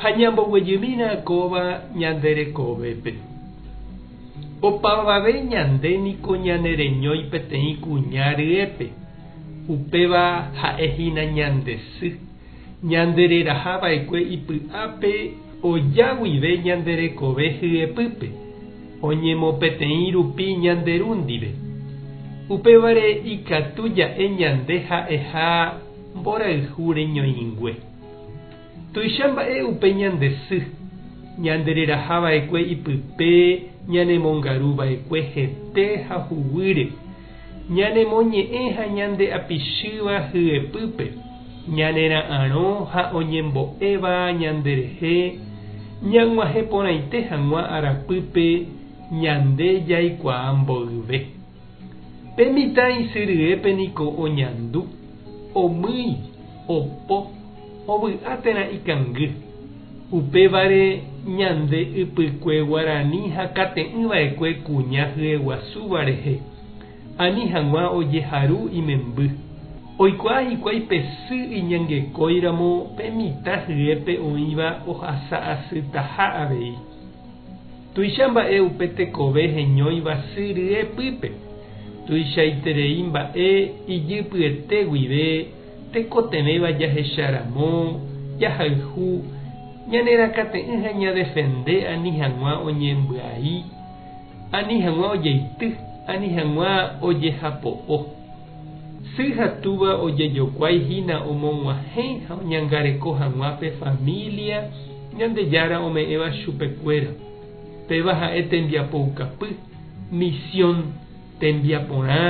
Ha ñamboguejymína kóva ñande rekovépe. Opavave ñande niko ñanereñói peteĩ kuña ryépe, upéva ha'e hína ñande sy, ñande reraha va'ekue ipy'ápe oja guive ñande rekove hyepýpe, oñemopeteĩ rupi ñande ru ndive. Upévare ikatu ja'e ñande ha'eha mborayhu reñoĩngue. Tuicha mba'e upe ñande sy, ñandereraha va'ekue ipype ñanemongaru va'ekue hete ha huguýre, ñanemoñe'ẽ ha ñande apichýva hyepýpe, ñanera'arõ ha oñembo'éva ñanderehe ñag̃uahẽ porãite hag̃ua arapýpe ñande jaikuaa mboyve. Pe mitã isy ryépe niko oñandu, omýi, opo, ovy'a térã ikangy. Upévare ñande ypykue guarani hakate'ỹ vaekue kuña hyeguasúva rehe, ani hag̃ua ojeharu imemby. Oikuaa hikuái pe sy iñangekóiramo pe mitã hyépe oĩva ohasa asytaha avei. Tuicha mba'e upe tekove heñóiva sy ryepýpe. Tuichaiterei mba'e ijypyete guive tekotevẽva jahecha ramo, jahayhu, ñanerakate'ỹ ha ñadefende ani hag̃ua oñembyai, ani hag̃ua ojeity, ani hag̃ua ojehapo'o. Sy ha túva ojejokuái hína omog̃uahẽ ha oñangareko hag̃ua pe família Ñandejára ome'ẽva chupekuéra. Péva ha'e tembiapoukapy, misión, tembiaporã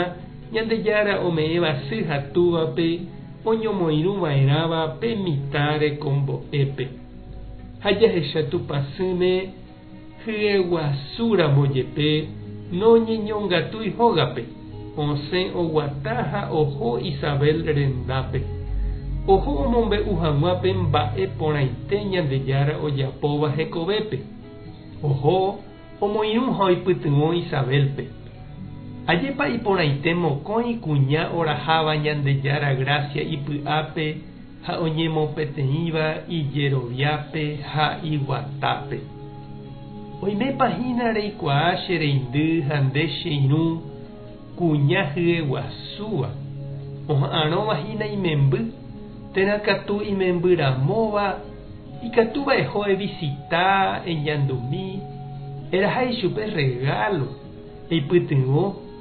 Ñandejára ome'ẽva sy ha túvape oñomoirũ va'erãva pe mitã rekombo'épe. Ha jahecha Tupã sỹme, Hyeguasúramo jepe noñeñongatúi hógape, osẽ oguata ha oho Isabel rendápe. Oho omombe'u hag̃ua pe mba'e porãite Ñandejára ojapóva hekovépe. Oho omoirũ ha oipytyvõ Isabélpe. Ajépa iporãite mokõi kuña oraháva Ñandejára grásia ipy'ápe! ha oñemopeteĩva ijeroviápe ha iguatápe. Oimépa hína reikuaa che reindy ha nde che irũ kuña hyeguasúva, oha'arõva hína imemby, térã katu imemby ramóva, ikatúva eho evisita, eñandumi, eraha ichupe rregálo, eipytyvõ,